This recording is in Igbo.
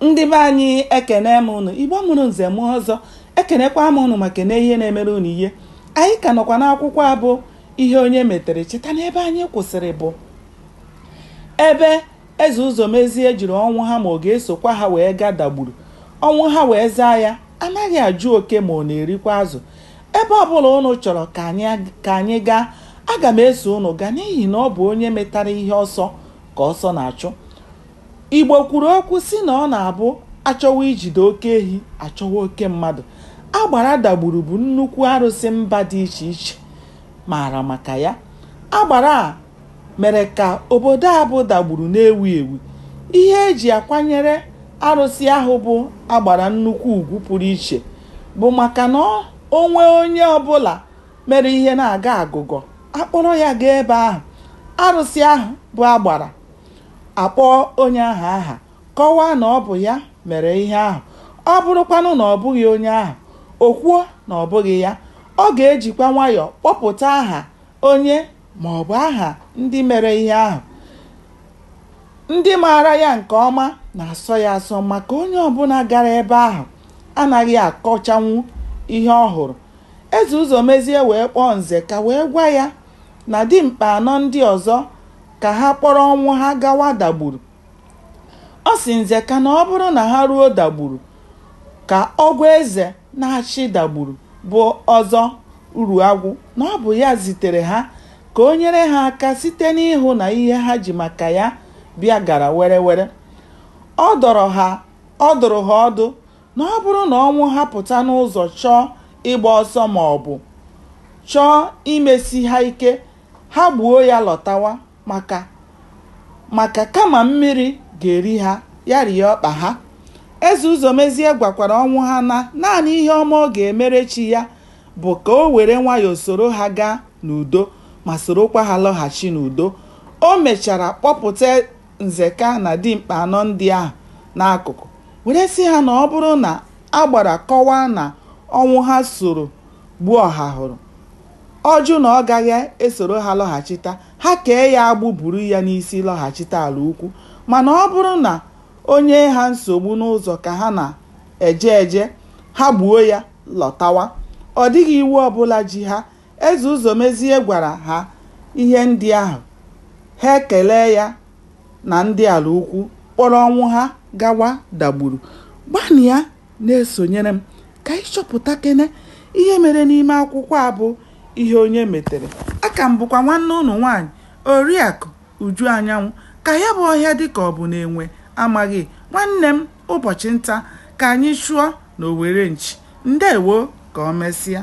Ndị be anyị ekene m ụnụ, Igbo mụrụ nze mụọ ọzọ, ekenekwa m ụnụ ma kene ihe na-emere ụnụ ihe. Anyị ka nọkwa n'akwụkwọ a bụ Ihe Onye Metere. Cheta na ebe anyị kwụsịrị bụ ebe Eze Ụzọmezie jụrụ Ọnwụha ma ọ ga-esokwa ha wee gaa Dagburu. Ọnwụha wee zaa ya anaghị ajụ oke ma ọ na-erikwa azụ ebe ọbụla ụnụ chọrọ ka anyị gaa aga m eso ụnụ gaa n'ihi na ọ bụ onye metara ihe ọsọ ka ọsọ na-achụ Igbo kwuru okwu sị na ọ na-abụ a chọwa ijide oke ehi, a chọwa oke mmadụ. Agbara dagburu bụ nnukwu arụsị mba dị iche iche maara maka ya. Agbara a mere ka obodo a bụ Dagburu na-ewu ewu. Ihe e ji akwanyere arụsị ahụ bụ Agbara nnukwu ugwu pụrụ iche bụ maka na o nwee onye ọbụla mere ihe na-agọ agụgọ, a kpọrọ ya gaa ebe ahụ. Arụsị ahụ bụ Agbara. akpọọ onye ahụ aha, kọwaa na ọ bụ ya mere ihe ahụ, ọ bụrụkwanụ na ọ bụghị onye ahụ, o kwuo na ọ bụghị ya. Ọ ga-ejikwa nwayọọ kpọpụta aha onye ma ọ bụ aha ndị mere ihe ahụ. Ndị maara ya nke ọma na-asọ ya asọ maka onye ọ bụla gara ebe ahụ anaghị akọchanwu ihe ọ hụrụ. Eze Ụzọmezie wee kpọọ Nzeka wee gwa ya na dimkpa anọ ndị ọzọ ka ha kpọrọ Ọnwụha gawa Dagburu. Ọ sị Nzeka na ọ bụrụ na ha ruo Dagburu ka ọ gwa eze na-achị Dagburu bụ Ọzọ Uruagwụ na ọ bụ ya zitere ha ka o nyere ha aka site n'ịhụ na ihe ha ji maka ya bịa gara were were. Ọ dọrọ ha ọ dụrụ ha ọdụ na ọ bụrụ na Ọnwụha pụta n'ụzọ chọọ ịgba ọsọ ma ọ bụ chọọ imesi ha ike Ha gbuo ya lọtawa maka maka kama mmiri ga-eri ha, ya rie ọkpa ha. Eze Ụzọmezie gwakwara Ọnwụha na naanị ihe ọma ọ ga-emere chi ya bụ ka o were nwayọọ soro ha gaa n'udo ma sorokwa ha lọghachi n'udo. O mechara kpọpụta Nzeka na dimkpa anọ ndị ahụ n'akụkụ were sị ha na ọ bụrụ na Agbara kọwaa na Ọnwụha soro gbuo Ọhahụrụ, Ọ jụ na ọ gaghị esoro ha lọghachita, ha kee ya agbụ buru ya n'isi lọghachita Alaukwu. Mana ọ bụrụ na o nyee ha nsogbu n'ụzọ ka ha na-eje eje, ha gbuo ya lọtawa. Ọ dịghị iwu ọbụla ji ha. Eze Ụzọmezie gwara ha ihe ndị ahụ, ha ekelee ya na ndị Alaukwu, kpọrọ Ọnwụha gawa Dagburu. Gbanụ ya! Na-esonyere m ka anyị chọpụtakene ihe mere n'ime akwụkwọ a bụ Ihe Onye Metere. Aka m bụkwa nwanne ụnụ nwaanyị Oriakụ Uju Anyanwụ. Ka ya bụ ọhịa dị ka ọ bụ na enwe amaghị nwanne m ụbọchị nta ka anyị chụọ na owere nchi. Ndewo, ka o mesịa.